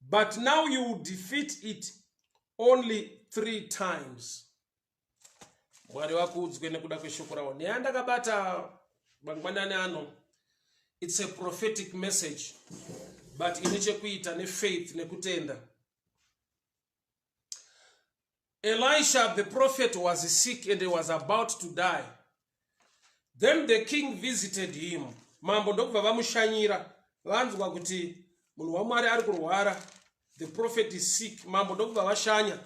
but now you will defeat it only three times mwari vakuudzwe nekuda kweshoko ravo nyaya ndakabata mangwanani ano its a prophetic message but ine chekuita nefaith nekutenda Elisha the prophet was sick and he was about to die. Then the king visited him. Mambo ndokubva vamushanyira vanzwa kuti munhu waMwari ari kurwara. The prophet is sick. Mambo ndokubva vashanya.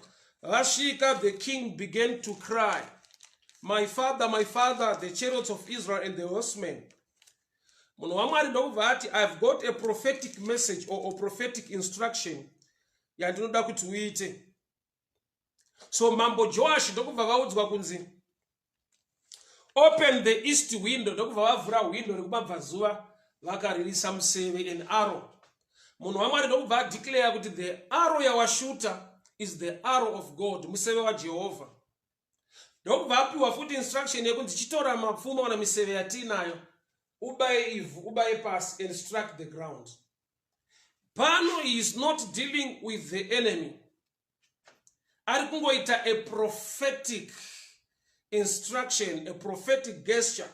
Vasvika the king began to cry. My father, my father, the chariots of Israel and the horsemen. Munhu waMwari ndokubva ati I've got a prophetic message or a prophetic instruction yandinoda kuti uite so mambo joashi ndokubva vaudzwa kunzi open the east window ndokubva vavhura hwindo rekumabvazuva vakaririsa museve an arrow munhu wamwari ndokubva adeclare kuti the arrow yawashuta is the arrow of god museve wajehovha ndokubva apiwa futi instruction yekunzi chitora mapfumo kana miseve yatiinayo ubaye ivhu ubaye pasi and struck the ground pano he is not dealing with the enemy ari kungoita a prophetic instruction a prophetic gesture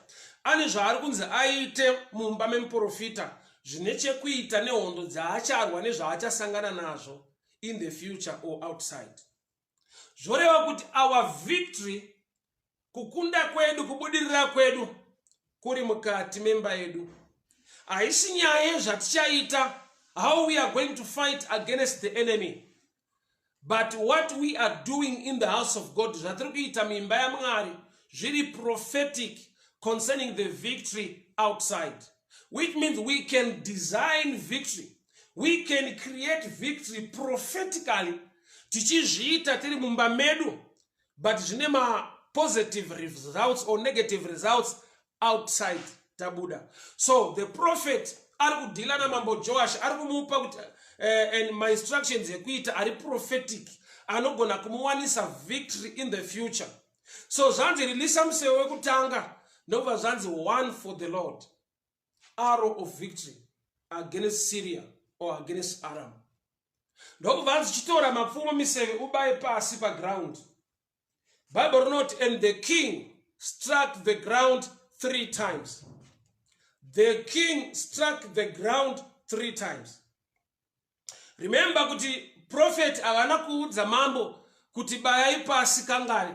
ane zvaari kunzi aite mumba memuprofita zvine chekuita nehondo dzaacharwa nezvaachasangana nazvo in the future or outside zvoreva kuti our victory kukunda kwedu kubudirira kwedu kuri mukati memba yedu haisi nyaya yezvatichaita how we are going to fight against the enemy but what we are doing in the house of god zvatiri kuita muimba yamwari zviri prophetic concerning the victory outside which means we can design victory we can create victory prophetically tichizviita tiri mumba medu but zvine mapositive results or negative results outside tabuda so the prophet ari kudhila namambo joash ari kumupa kuti uh, and my instructions ekuita ari prophetic anogona kumuwanisa victory in the future so zvanzi rilisa museve wekutanga ndokubva zvanzi one for the lord arrow of victory against syria or against aram ndokubva anzi chitora mapfumo miseve ubaye pasi paground bible rinoti and the king struck the ground three times the king struck the ground three times remember kuti profeti havana kuudza mambo kuti bayai pasi kangani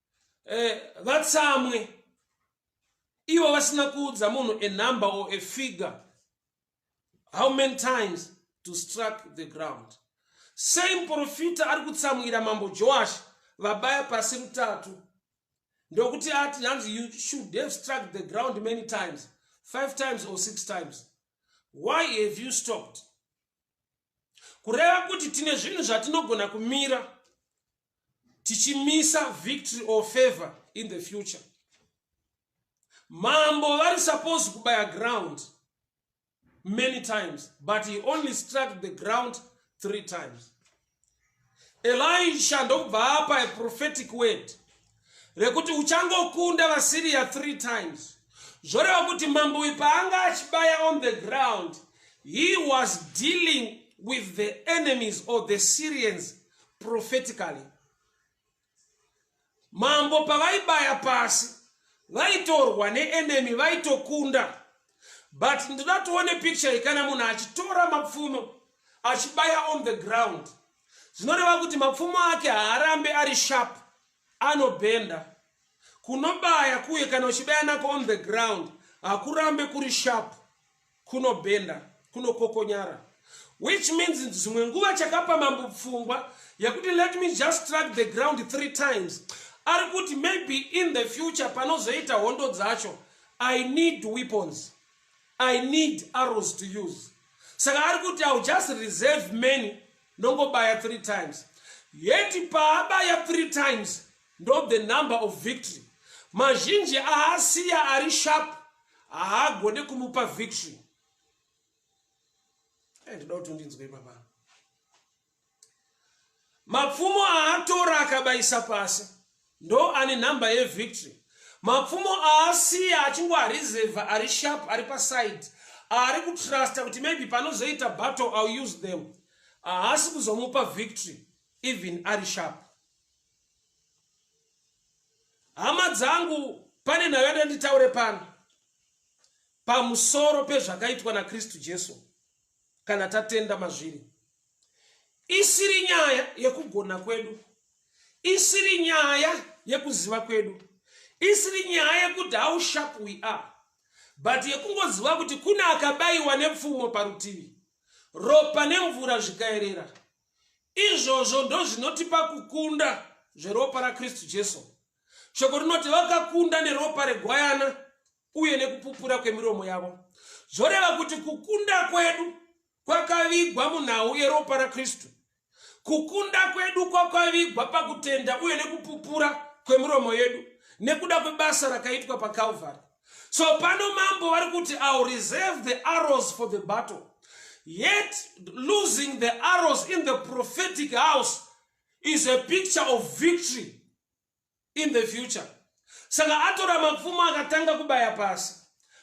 eh, vatsamwe eh, ivo vasina kuudza munhu a number or a figure how many times to struck the ground same profita ari kutsamwira mambo joash vabaya pasi rutatu ndokuti ati hanzi you should have struck the ground many times five times or six times why have you stopped kureva kuti tine zvinhu zvatinogona kumira tichimisa victory or favor in the future mambo vari supposed kubaya ground many times but he only struck the ground three times elisha ndokubva apa a prophetic word rekuti uchangokunda vasiriya three times zvoreva kuti mambo uyu paanga achibaya on the ground he was dealing with the enemies or the syrians prophetically Mambo pavaibaya pasi vaitorwa neenemy vaitokunda but ndoda tione picture iyi kana munhu achitora mapfumo achibaya on the ground zvinoreva kuti mapfumo ake haarambe ari sharp anobhenda kunobaya kuye kana uchibaya nako on the ground hakurambe kuri sharp kunobhenda kunokokonyara which means dzimwe nguva chakapa mambo pfungwa yekuti let me just strike the ground three times ari kuti maybe in the future panozoita hondo dzacho i need weapons i need arrows to use saka ari kuti iw just reserve many ndongobaya three times yeti paabaya three times ndo the number of victory mazhinji aasiya ari sharp haagone kumupa victory eh, ndida kuti undinzwe ipapa mapfumo aatora akabayisa pasi ndo ane nhamba yevictory mapfumo aasiya achingoarizevha ari sharp ari paside ari kutrusta kuti maybe panozoita battle ill use them haasi kuzomupa victory even ari sharp hama dzangu pane nhayo yada nditaure pano pamusoro pezvakaitwa nakristu jesu kana tatenda mazviri isiri nyaya yekugona kwedu isiri nyaya yekuziva kwedu isiri nyaya yekuti how sharp we are but yekungoziva kuti kune akabayiwa nepfumo parutivi ropa nemvura zvikaerera Izvozvo ndozvinotipa kukunda zveropa raKristu Jesu. Shoko rinoti vakakunda neropa regwayana uye nekupupura kwemiromo yavo. Zvoreva kuti kukunda kwedu kwakavigwa munhau yeropa raKristu. Kukunda kwedu kwakavigwa pakutenda uye nekupupura kwemiromo yedu nekuda kwebasa rakaitwa paKalvari. so pano mambo vari kuti ill reserve the arrows for the battle yet losing the arrows in the prophetic house is a picture of victory in the future saka atora mapfumo akatanga kubaya pasi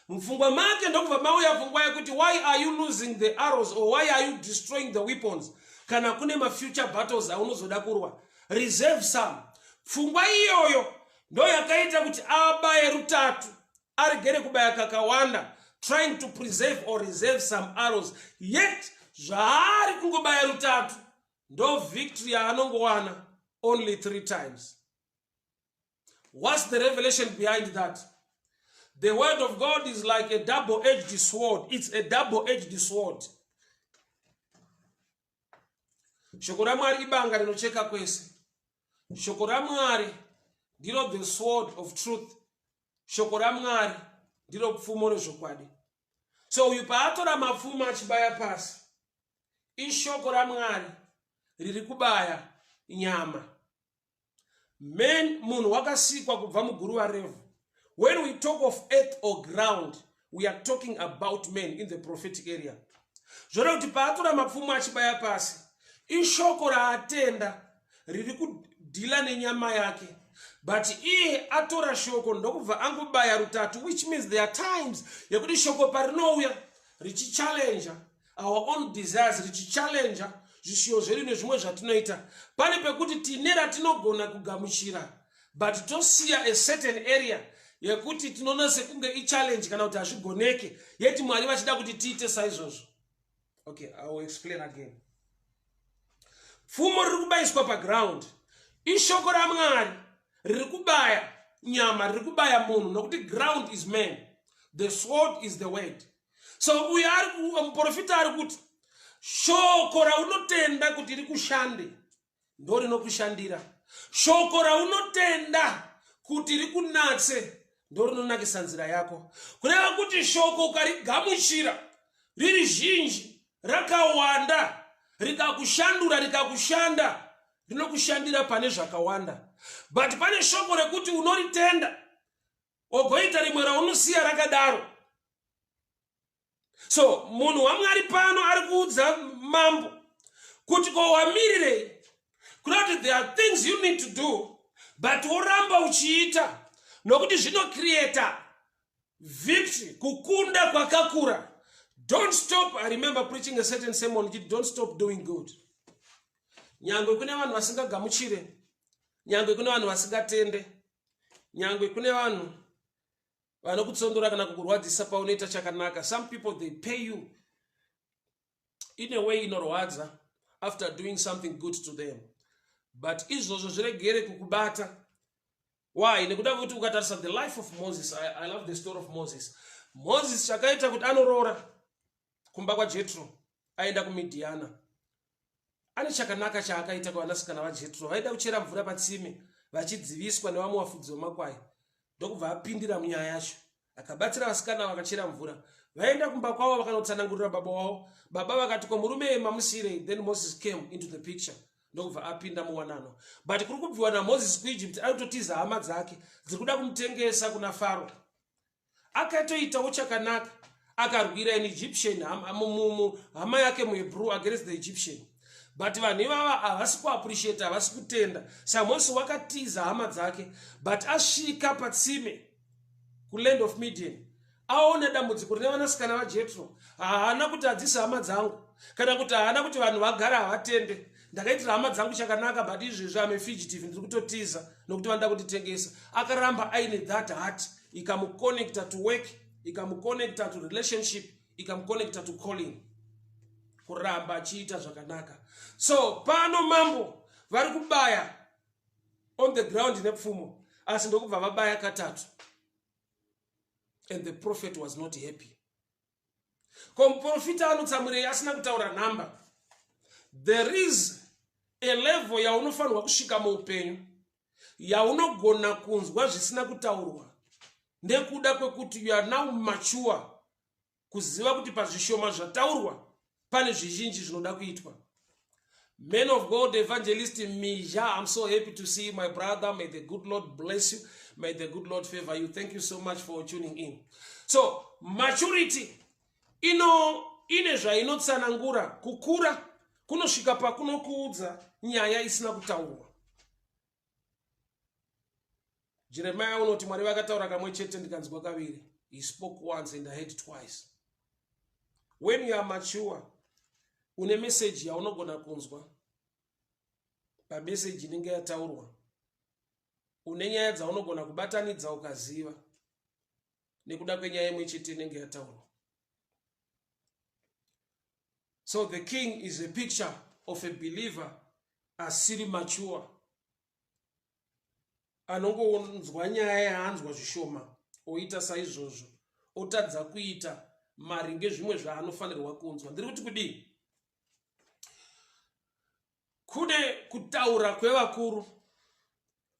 mupfungwa make ndokubva mauya pfungwa yekuti why are you losing the arrows or why are you destroying the weapons kana kune mafuture battles aunozoda kurwa reserve some pfungwa iyoyo ndoyakaita kuti abaye rutatu aregere kubaya kakawanda trying to preserve or reserve some arrows yet zvaari kungobaya rutatu ndo victory yaanongowana only three times whats the revelation behind that the word of god is like a double edged sword it's a double edged sword shoko ramwari ibanga rinocheka kwese shoko ramwari ndiro the sword of truth shoko ramwari ndiro pfumo rezvokwadi so uyu paatora mapfumo achibaya pasi ishoko ramwari riri kubaya nyama man munhu wakasikwa kubva muguruva revhu when we talk of earth or ground we are talking about man in the prophetic area zvoreva kuti paatora mapfumo achibaya pasi ishoko raatenda riri kudhila nenyama yake but iye atora shoko ndokubva angobaya rutatu which means there are times yekuti shoko parinouya richichallenja our own desires richichallenja zvishiyo zvedu nezvimwe zvatinoita pane pekuti tine ratinogona kugamuchira but tosiya a certain area yekuti tinoona sekunge ichallenge kana kuti hazvigoneke yeti mwari vachida kuti tiite saizvozvo okay i will explain again pfumo riri kubayiswa paground ishoko ramwari riri kubaya nyama riri kubaya munhu nokuti ground is man the sword is the word so uyo ari muprofita ari kuti shoko raunotenda kuti rikushande ndo rinokushandira shoko raunotenda kuti rikunatse ndo rinonakisa nzira yako kureva kuti shoko ukarigamuchira riri zhinji rakawanda rikakushandura rikakushanda rinokushandira pane zvakawanda but pane shoko rekuti unoritenda ogoita rimwe raunosiya rakadaro so munhu wamwari pano ari kuudza mambo kuti ko wamirirei kuda kuti there are things you need to do but woramba uchiita nokuti zvinocreata victory kukunda kwakakura don't stop i remember preaching a certain sermon kiti don't stop doing good nyangwe kune vanhu vasingagamuchire nyangwe kune vanhu vasingatende nyangwe kune vanhu vanokutsondora kana kukurwadzisa paunoita chakanaka some people they pay you in a way inorwadza after doing something good to them but izvozvo zviregere kukubata why nekuda kwekuti ukatarisa the life of moses I, i love the story of moses moses chakaita kuti anoroora kumba kwajetro aenda kumidiana Ane chakanaka chaakaita kuvanasikana vaJetro vaida kuchera mvura patsime vachidziviswa nevamwe vafudzi vemakwai ndokubva apindira munyaya yacho. Akabatsira vasikana vakachera mvura vaenda kumba kwavo vakanotsanangurira baba wavo. Baba vakati ko murume ye mamusirei then Moses came into the picture ndokubva apinda muwanano but kuri kubviwa naMoses kuEgypt aitotiza hama dzake dziri kuda kumutengesa kuna Faro. akatoitawo chakanaka akarwira an egyptian hama yake muhebrew against the egyptian but vanhu ivava havasi kuappreciate havasi kutenda samosi wakatiza hama dzake but asvika patsime kuland of median aona dambudziko rine vanasikana vajetro haana kuti hadzisi hama dzangu kana kuti haana kuti vanhu vagara havatende ndakaitira hama dzangu chakanaka but izvezvi ame fugitive ndiri kutotiza nokuti vanoda kunditengesa akaramba aine that heart ikamuconnecta to work ikamuconnecta to relationship ikamuconnecta to calling kuramba achiita zvakanaka so pano mambo vari kubaya on the ground nepfumo asi ndokubva vabaya katatu and the prophet was not happy ko muprofita anotsamwirei asina kutaura nhamba there is a level yaunofanirwa kusvika muupenyu yaunogona kunzwa zvisina kutaurwa nekuda kwekuti you are now mature kuziva kuti pazvishoma zvataurwa pane zvizhinji zvinoda kuitwa man of god evangelist mija im so happy to see you my brother may the good lord bless you may the good lord favor you thank you so much for tuning in so maturity ino ine zvainotsanangura kukura kunosvika pakunokuudza nyaya isina kutaurwa jeremiya unoti mwari vakataura kamwe chete ndikanzwa kaviri he spoke once and i heard twice when you are mature une meseji yaunogona kunzwa pameseji inenge yataurwa une nyaya dzaunogona kubatanidza ukaziva nekuda kwenyaya imwe chete inenge yataurwa so the king is a picture of a believer asiri mature anongonzwa nyaya yaanzwa zvishoma oita saizvozvo otadza kuita maringe zvimwe zvaanofanirwa kunzwa ndiri kuti kudii kune kutaura kwevakuru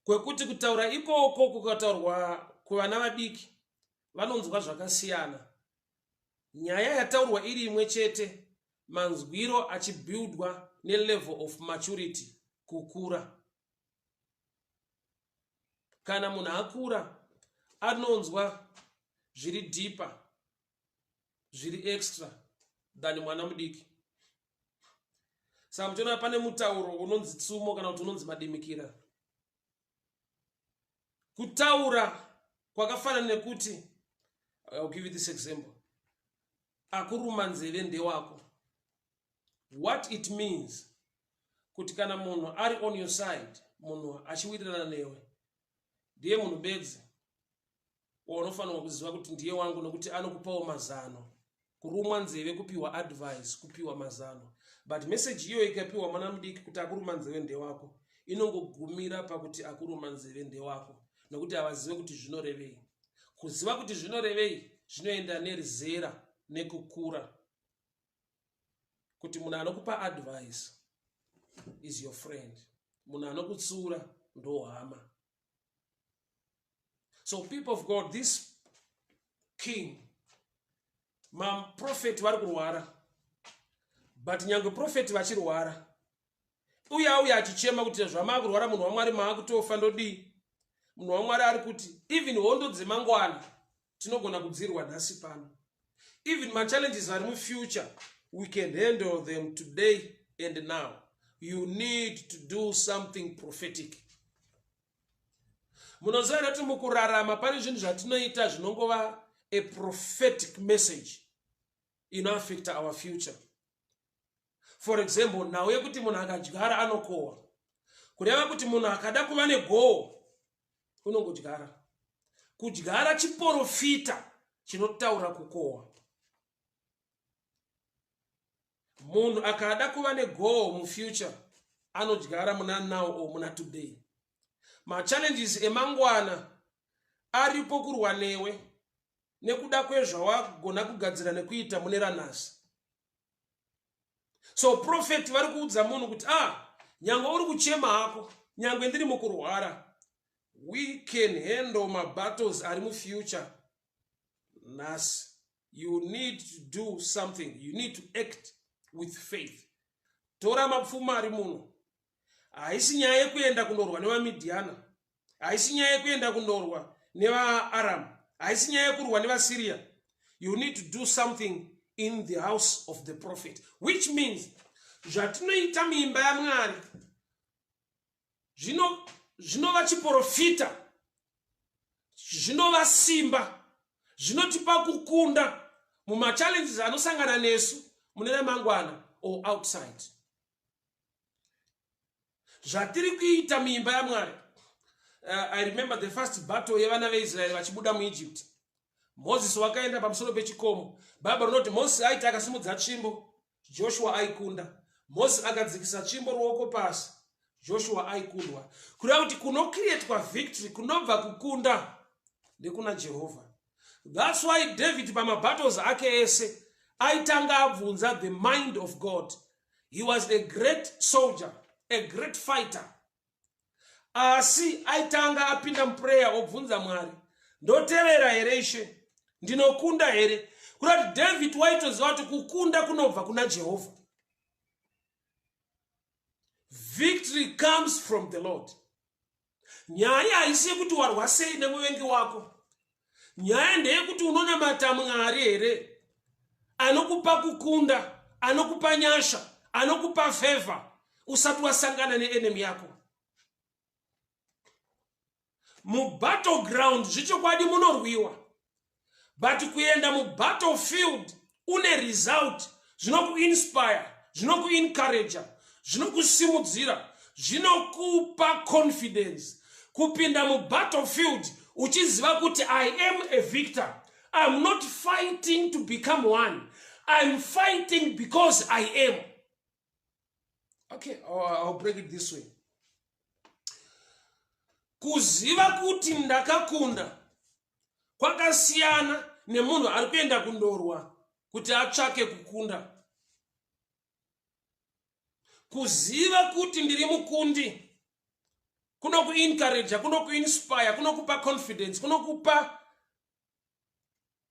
kwekuti kutaura ikoko kukataurwa kuvana vadiki vanonzwa zvakasiyana. Nyaya yataurwa iri imwe chete manzwiro achibuildwa nelevel of maturity kukura. Kana munhu akura anonzwa zviri deeper zviri extra than mwana mudiki saka muchiona pane mutauro unonzi tsumo kana kuti unonzi madimikira kutaura kwakafanana nekuti I'll give you this example akuruma nzeve ndewako what it means kuti kana munhu ari on your side munhu achiwirirana newe ndiye munhu bedzi waunofanirwa kuziva kuti ndiye wangu nokuti anokupawo mazano kurumwa nzeve kupiwa advice kupiwa mazano but meseji iyoyo ikapiwa mwana mudiki kuti akuruma nzeve ndewako inongogumira pakuti akuruma nzeve ndewako nokuti havazive kuti zvinorevei kuziva kuti zvinorevei zvinoenda nerizera nekukura kuti munhu anokupa advice is your friend munhu anokutsiura ndohama so people of god this king maprofeti vari kurwara but nyange profeti vachirwara uye auye achichema kuti zvamaa kurwara munhu wamwari maakutofa ndodii munhu wamwari ari kuti even hondo dzemangwana tinogona kudziirwa nhasi pano even machallenges ari mufuture we can handle them today and now you need to do something prophetic munoziva here kuti mukurarama pane zvinhu zvatinoita zvinongova a prophetic message inoaffecta our future for example nhau yekuti munhu akadyara anokohwa kureva kuti munhu akada kuva negoho unongodyara kudyara chiporofita chinotaura kukohwa munhu akada kuva negoho mufuture anodyara muna now or muna today machallenges emangwana aripo kurwa newe nekuda kwezvawagona kugadzira nekuita mune ranhasi so profeti vari kuudza munhu kuti a ah, nyange uri kuchema hako nyange ndiri mukurwara we can handle mabattles ari mufuture nhasi you need to do something you need to act with faith tora mapfuma ari muno haisi nyaya yekuenda kunorwa nevamidhiana haisi nyaya yekuenda kunorwa nevaaramu haisi nyaya yekurwa nevasyria you need to do something in the house of the prophet which means zvatinoita muimba yamwari zvinova chiprofita zvinova simba zvinotipa kukunda mumachallenges anosangana nesu mune ramangwana or outside zvatiri kuita muimba yamwari uh, i remember the first battle yevana veisraeri vachibuda muegypt mozisi wakaenda pamusoro pechikomo bhaibheri rinoti mozisi aiti akasimudza tsvimbo joshua aikunda mozisi akadzikisa tsvimbo ruoko pasi joshua aikundwa kureva kuti kunokrietwa victory kunobva kukunda nekuna jehovha That's why David pamabattles ake ese aitanga abvunza the mind of God. He was a great soldier, a great fighter. Asi aitanga apinda muprayer obvunza Mwari, ndoterera here ishe? Ndinokunda here? Kurati David waitoziva kuti kukunda kunobva kuna Jehovah. Victory comes from the Lord. Nyaya haisi yekuti warwa sei nemuvengi wako. Nyaya ndeyekuti unonamata Mwari here anokupa kukunda, anokupa nyasha, anokupa favor usati wasangana neenemy yako. Mubattleground zvichokwadi munorwiwa. but kuenda mubattlefield une result zvinokuinspire zvinokuencouraja zvinokusimudzira zvinokupa confidence kupinda mubattlefield uchiziva kuti i am a victor iam not fighting to become one iam fighting because i am okay i'll break it this way kuziva kuti ndakakunda kwakasiyana nemunhu ari kuenda kundorwa kuti atsvake kukunda kuziva kuti ndiri mukundi kunokuencouraja kunokuinspire kunokupa confidence kunokupa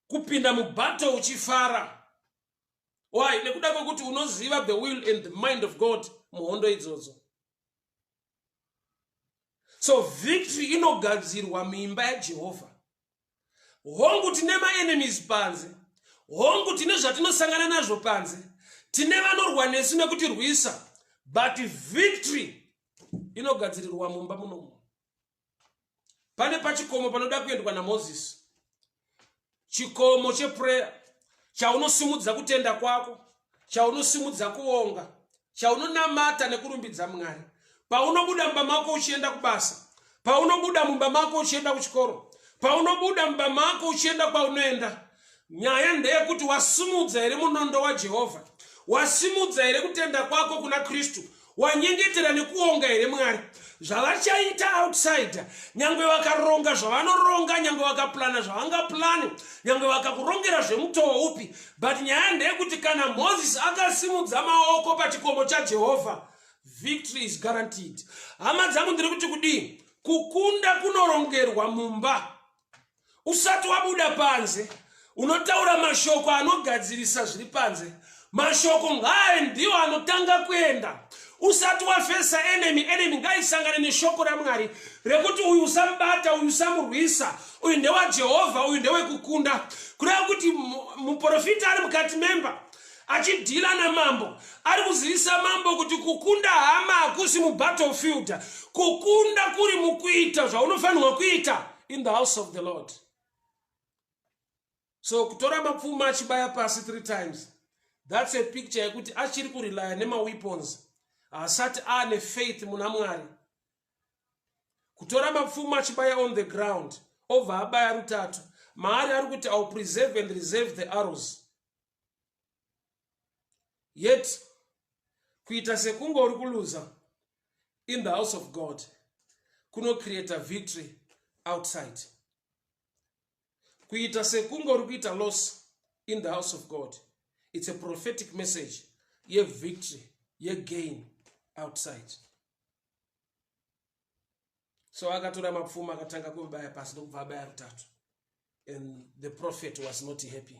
kupinda mubattle uchifara why nekuda kwekuti unoziva the will and the mind of god muhondo idzodzo so victory inogadzirwa muimba yajehovha hongu tine maenemies panze hongu tine zvatinosangana nazvo panze tine vanorwa nesu nekutirwisa but victory inogadzirirwa mumba munomu pane pachikomo panoda kuendwa namozisi chikomo chepureya chaunosimudza kutenda kwako chaunosimudza kuonga chaunonamata nekurumbidza mwari paunobuda mumba mako uchienda kubasa paunobuda mumba mako uchienda kuchikoro paunobuda mumba mako uchienda kwaunoenda Nyaya ndeyekuti wasimudza here munondo waJehovha? Wasimudza here kutenda kwako kuna Kristu? Wanyengetera nekuonga here Mwari? Zvavachaita outsider, nyange vakaronga zvavanoronga, nyange vakaplana zvavangaplani, nyange vakakurongera zvemutowo upi, but nyaya ndeyekuti kana Moses akasimudza maoko pachikomo chaJehovha, victory is guaranteed. Hama dzangu ndiri kuti kudii? Kukunda kunorongerwa mumba usati wabuda panze unotaura mashoko anogadzirisa zviri panze mashoko ngaye ndiwo anotanga kuenda usati wafesa enemy enemy ngaisangane neshoko ramwari rekuti uyu usamubata uyu usamurwisa uyu ndewajehovha uyu ndewekukunda kureva kuti muprofita ari mukati memba achidhila namambo ari kuzivisa mambo kuti kukunda hama hakusi mubattlefield kukunda kuri mukuita zvaunofanirwa kuita in the house of the lord so kutora mapfuma achibaya pasi three times that's a picture yekuti achiri kurelya nemaweapons haasati aane faith muna mwari kutora mapfuma achibaya on the ground obva abaya rutatu maari ari kuti ill preserve and reserve the arrows yet kuita sekunge uri kuluza in the house of god kunocreata victory outside kuita sekunge uri kuita loss in the house of god it's a prophetic message yevictory yegain outside so akatora mapfuma akatanga kuvabaya pasi ndokubva abaya rutatu and the prophet was not happy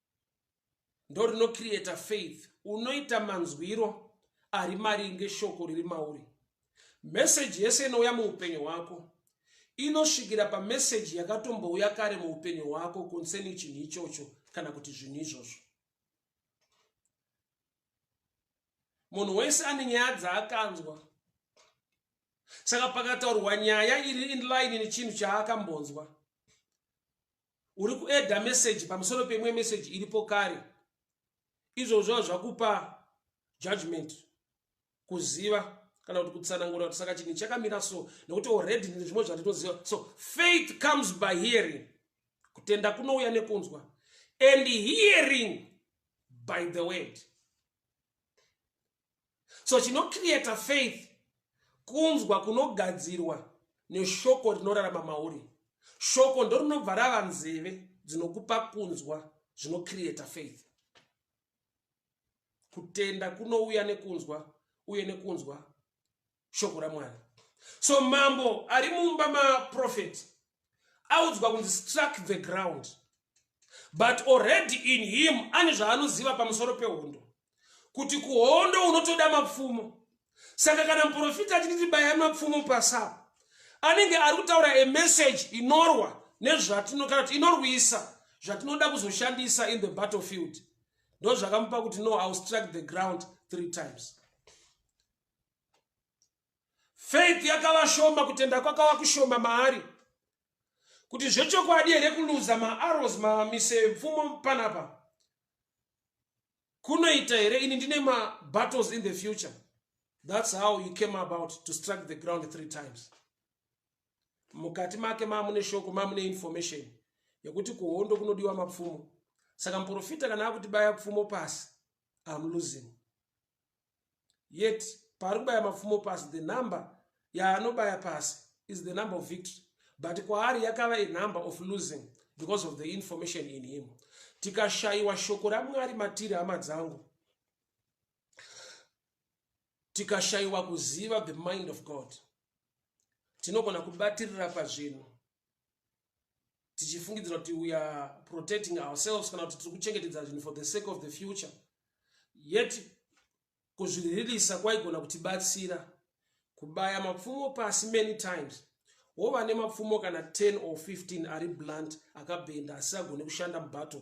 ndo rinocreata faith unoita manzwiro ari maringe shoko riri mauri meseji yese inouya muupenyu hwako inosvikira pameseji yakatombouya kare muupenyu hwako concerning chinhu ichocho kana kuti zvinhu izvozvo munhu wese ane nyaya dzaakanzwa saka pakataurwa nyaya iri inline nechinhu chaakambonzwa uri kuedha meseji pamusoro peimwe meseji iripo kare izvozvo zvakupa judgment kuziva kana kuti kutsanangura kuti saka chinhu chakamira so nekuti already ndine zvimwe zvandinoziva so faith comes by hearing kutenda kunouya nekunzwa and hearing by the word so chinocreata faith kunzwa kunogadzirwa neshoko rinorarama mauri shoko ndo rinobva rava nzeve dzinokupa kunzwa zvinocreata faith kutenda kunouya nekunzwa uye nekunzwa shoko ramwari so mambo ari mumba maprofeti audzwa kunzi struck the ground but already in him ane zvaanoziva pamusoro pehondo kuti kuhondo unotoda mapfumo saka kana muprofita achiti tibayai mapfumo pasapa anenge ari kutaura emessage inorwa nezvatinokana kuti inorwisa zvatinoda kuzoshandisa in the battlefield ndozvakamupa kuti no iw struck the ground three times faith yakava shoma kutenda kwakava kushoma maari kuti zvechokwadi here kuluza maaros mamise pfumo panapa kunoita here ini ndine mabattles in the future thats how you came about to strike the ground three times mukati make mamune shoko mamune information yekuti kuhondo kunodiwa mapfumo saka muprofita kana akutibaya pfumo pasi am losing yet paari kubaya mapfumo pasi the number yaanobaya pasi is the number of victory but kwaari yakava a number of losing because of the information in him tikashayiwa shoko ramwari matiri hama dzangu tikashayiwa kuziva the mind of god tinogona kubatirira pazvinhu tichifungidzira kuti we are protecting ourselves kana kuti tiri kuchengetedza zvinhu for the sake of the future yet kuzviririsa kwaigona kutibatsira kubaya mapfumo pasi many times wova nemapfumo kana 10 or 15 ari blunt akabhenda asi agone kushanda mubattle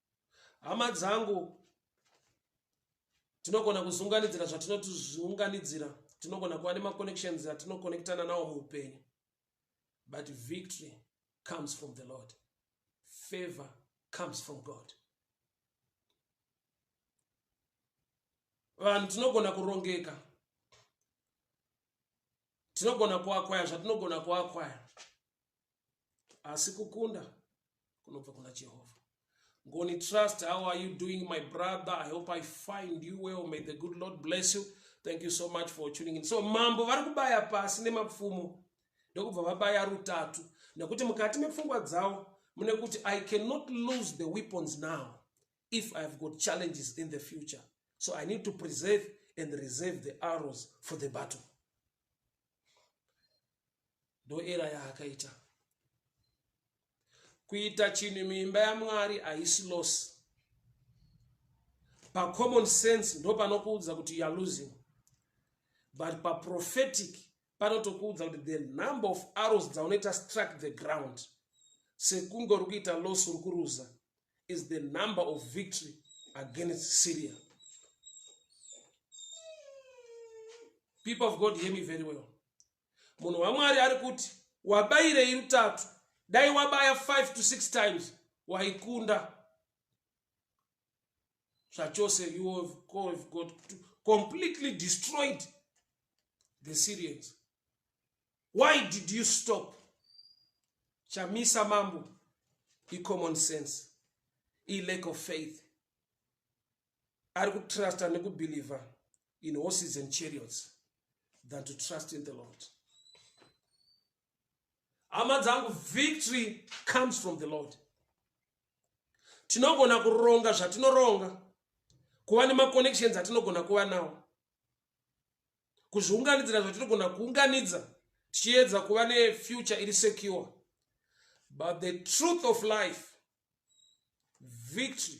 hama dzangu tinogona kuzunganidzira zvatinotizunganidzira tinogona kuva nemaconnections atinokonektana nawo muupenyu but victory comes from the lord favor comes from god vanhu tinogona kurongeka tinogona kuakwaya zvatinogona kuakwaya asi kukunda kunobva kuna jehovha ngoni trust how are you doing my brother i hope i find you well may the good lord bless you thank you so much for tuning in so mambo vari kubaya pasi nemapfumo ndokubva vabaya rutatu nekuti mukati mepfungwa dzavo mune kuti i cannot lose the weapons now if i have got challenges in the future so i need to preserve and reserve the arrows for the battle ndoera yaakaita kuita chinhu muimba yamwari haisi loss pacommon sense ndopanokuudza kuti youare losing but paprophetic panotokuudza kuti the number of arrows dzaunoita struck the ground sekunge uri kuita loss uri kuruza is the number of victory against syria people of god hear me very well munhu wamwari ari kuti wabairei rutatu dai wabaya 5 to 6 times waikunda zvachose you have got to completely destroyed the syrians why did you stop chamisa mambo icommon sense ilack of faith ari kutrusta nekubhilivha in horses and chariots than to trust in the lord hama dzangu victory comes from the lord tinogona kuronga zvatinoronga kuva nemaconnections atinogona kuva nawo kuzviunganidzira zvatinogona kuunganidza tichiedza kuva nefuture iri secure but the truth of life victory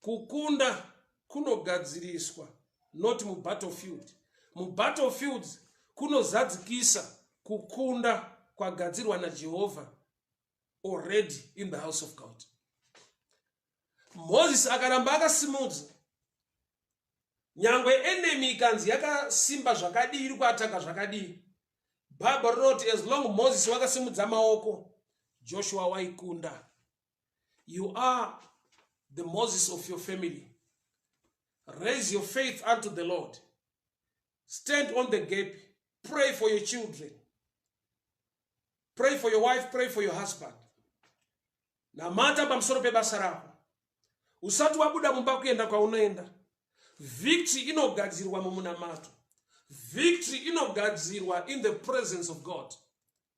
Kukunda kunogadziriswa not mubattlefield. Mubattlefields kunozadzikisa kukunda kwagadzirwa naJehovha already in the house of God. Moses akaramba akasimudza nyangwe enemy ikanzi yakasimba zvakadii iri kuataka zvakadii bhabha rinoti as long moses wakasimudza maoko joshua waikunda You are the Moses of your family. Raise your faith unto the Lord. Stand on the gap. Pray for your children. Pray for your wife. Pray for your husband. Namata pamsoro pebasa rako. Usati wabuda mumba kuenda kwaunoenda. Victory inogadzirwa mumunamato. Victory inogadzirwa in the presence of God.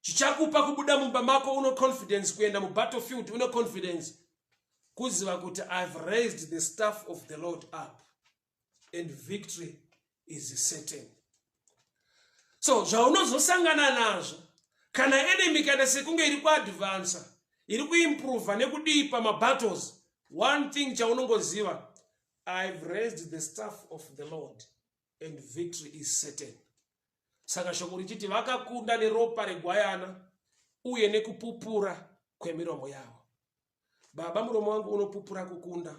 chichakupa kubuda mumba mako uno confidence kuenda mubattlefield une confidence kuziva kuti ihave raised the staff of the lord up and victory is certain so zvaunozosangana nazvo kana enemy ikaita sekunge iri kuadvansa iri kuimprova nekudii pamabattles one thing chaunongoziva ihave raised the staff of the lord and victory is certain saka shoko richiti vakakunda neropa regwayana uye nekupupura kwemiromo yavo baba muromo wangu unopupura kukunda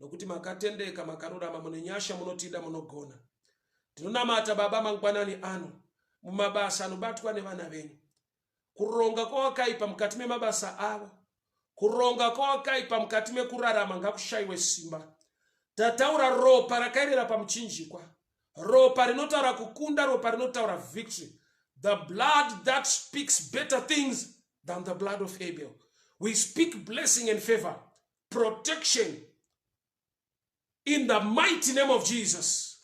nokuti makatendeka makarurama mune nyasha munotida munogona ndinonamata baba mangwanani ano mumabasa anobatwa nevana venyu kuronga kwawakaipa mukati memabasa avo kuronga kwawakaipa mukati mekurarama ngakushayiwe simba tataura ropa rakaerera pamuchinjikwa ropa rinotaura kukunda ropa rinotaura victory the blood that speaks better things than the blood of abel we speak blessing and favor protection in the mighty name of jesus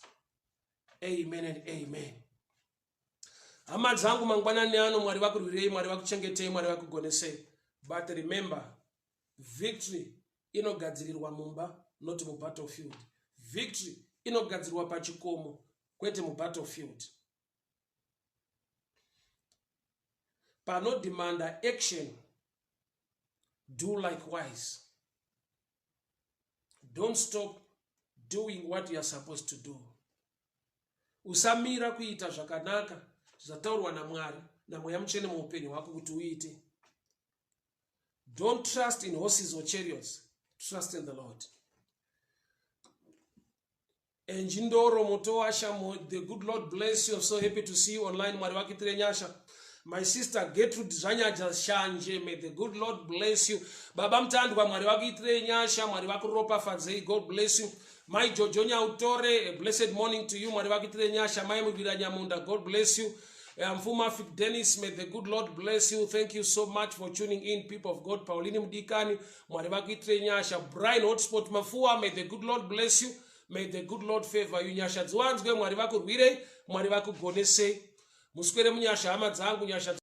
amen and amen hama dzangu mangwanani ano mwari vakurwirei mwari vakuchengetei mwari vakugonesei but remember victory inogadzirirwa mumba not mubattlefield victory inogadzirirwa pachikomo kwete mubattlefield panodemanda action do likewise don't stop doing what youare supposed to do usamira kuita zvakanaka zvataurwa namwari namweya mutsvene muupenyu hwako kuti uite don't trust in horses or chariots trust in the lord Eh, njindoro motowasha the good lord bless you so happy to see you online mwari vakuitire nyasha my sister getrude zvanyaja shanje may the good lord bless you baba mutandwa mwari vakuitire nyasha mwari vakuropafadzei god bless you mai jojo nyautore a blessed morning to you mwari vakuitire nyasha mai muvira nyamunda god bless you eh, mfuma fik dennis may the good lord bless you thank you so much for tuning in people of god paulini mudikani mwari vakuitire nyasha brine hotspot mafuwa may the good lord bless you may the good lord favor you nyasha dziwanzwe mwari vakurwirei mwari vakugonesei muswere munyasha hama dzangu nyasha